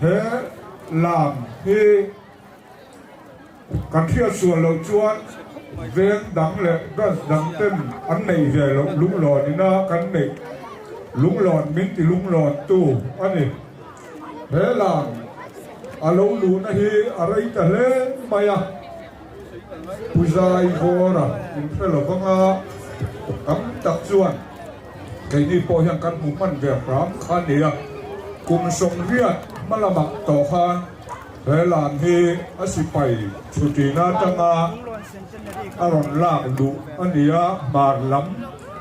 He lam hi kan hriatsual loh chuan veng dang leh branch dang ten an neih ve loh lunglawn ina kan neih lunglawn min ti lunglawn tu a ni. He lam a lo luhna hi a rei ta hle mai a, Pu Zaivawra inhre lovanga tam tak chuan, Keini pawh hian kan hmuh hman ve hram kha a ni a, kum sawmriat hma lamah tawh khan he lam hi a sipai chhutin atanga a rawn lak duh a ni a, hmar lam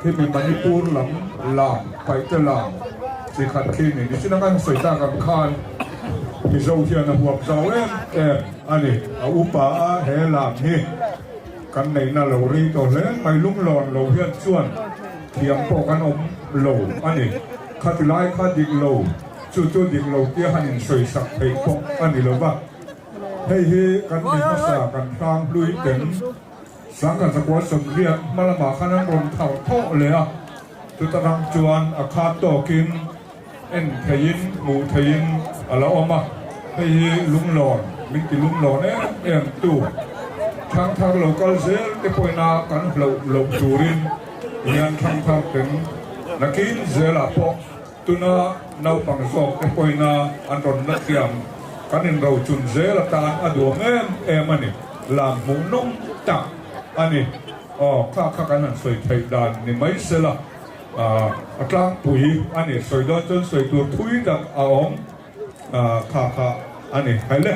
khi mi Manipur lam lam, Paite lam chi khat khi a ni. Nichina kan sawi tak ang khan Mizo hian a huam zau em em a ni, a upa a he lam hi. Kan neihna lo rei tawh hle mai lunglawn lo hian chuan thiam pawh kan awm lo a ni. Khati lai kha dik lo chu chu dik lo tia han insawi sak theih bawk a ni lo va. Hei hi kan mi hmasa kan hlang hlui ten Sangha Zakual Sawmriat hmalamah khan an rawn thar thawh leh a, chuta rang chuan a khat tawkin En theihin, hmuh theihin a la awm a, hei hi lunglawn, min ti lunglawn em em tu Thangthar lo kal zel te pawhina kan hlauh loh turin hian Thangthar peng nakin zelah pawh tuna naupang zawk te pawhina an rawn la thiam kan inrochun zel atan a duang em em a ni, lam hmuh nawm tak a ni, aw kha kha kan han sawi theih dan ni mai sela. A tlangpui a ni, sawi dawn chuan sawi tur thui tak a awm kha kha a ni. Hei le.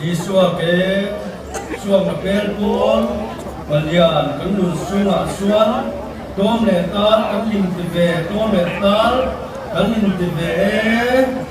Isua ke suakna per pawl palian kan nun sungah chuan tlawm leh tal kan hlim ti ve, tlawm leh tal kan hlim ti ve e.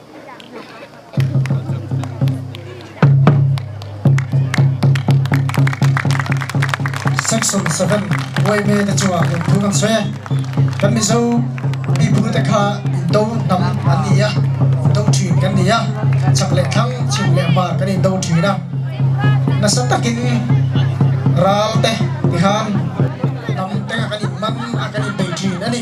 Section seven Uaime te chu ah inphur an sawi a, kan Mizo miphur te kha indo hnam an ni a, indo thin kan ni a, chak leh thlang, chhim leh hmar kan indo thin a, nasa takin ral te ti khan hnam te kha kan inman a, kan inbei thin a ni.